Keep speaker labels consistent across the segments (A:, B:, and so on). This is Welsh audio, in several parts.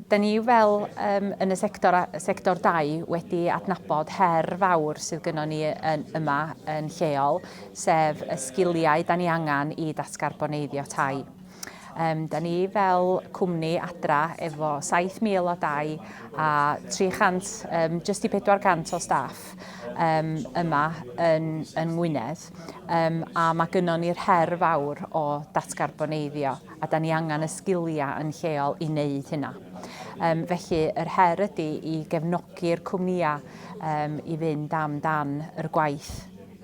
A: Da ni fel um, yn y sector, sector dau wedi adnabod her fawr sydd gynnon ni yn, yma yn lleol, sef y sgiliau da ni angen i datgarboneiddio tai. Um, da ni fel cwmni adra efo 7,000 o dau a 300, um, just i 400 o staff um, yma yn, yn Ngwynedd. um, a mae gynnon ni'r her fawr o datgarboneiddio, a da ni angen y sgiliau yn lleol i wneud hynna. Um, felly, yr her ydy i gefnogi'r cwmnïau um, i fynd am dan yr gwaith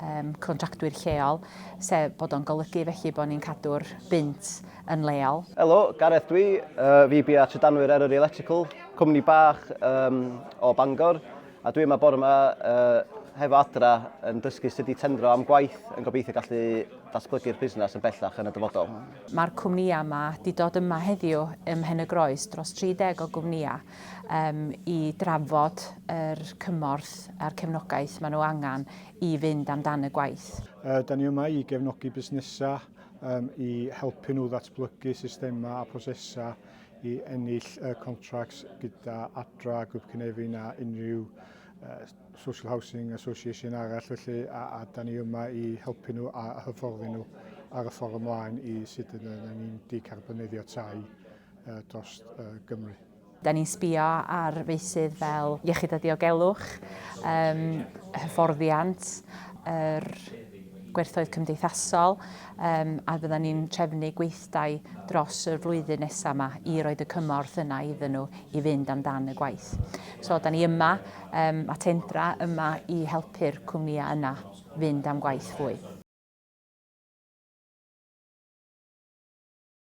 A: um, contractwyr lleol, sef bod o'n golygu felly bod ni'n cadw'r bynt yn leol. Helo, Gareth dwi,
B: uh, fi bia trydanwyr Eryri Electrical, cwmni bach um, o Bangor. A dwi yma bore yma uh, hefo adra yn dysgu sut i tendro am gwaith yn gobeithio gallu datblygu'r busnes yn bellach yn y dyfodol. Mae'r cwmnïau
A: yma wedi dod yma heddiw ym Mhen y Groes, dros 30 o gwmnïau, um, i drafod yr cymorth a'r cefnogaeth maen nhw angen i fynd amdan y gwaith. Uh, da ni yma i
C: gefnogi busnesau um, i helpu nhw ddatblygu systemau a prosesau i ennill y contracts gyda Adra, Grŵp Cynefin a unrhyw uh, Social Housing Association arall felly a, a da ni yma i helpu nhw a hyfforddi nhw ar y ffordd ymlaen i sut yna ni'n decarbonyddio tai uh, dros uh, Gymru. Da ni'n sbio
A: ar feisydd fel iechyd a diogelwch, um, hyfforddiant, yr er gwerthoedd cymdeithasol um, a fydda ni'n trefnu gweithio prosiectau dros y flwyddyn nesaf yma i roed y cymorth yna iddyn nhw i fynd amdan y gwaith. So, da ni yma, um, a Tendra yma i helpu'r cwmnïau yna fynd am gwaith fwy.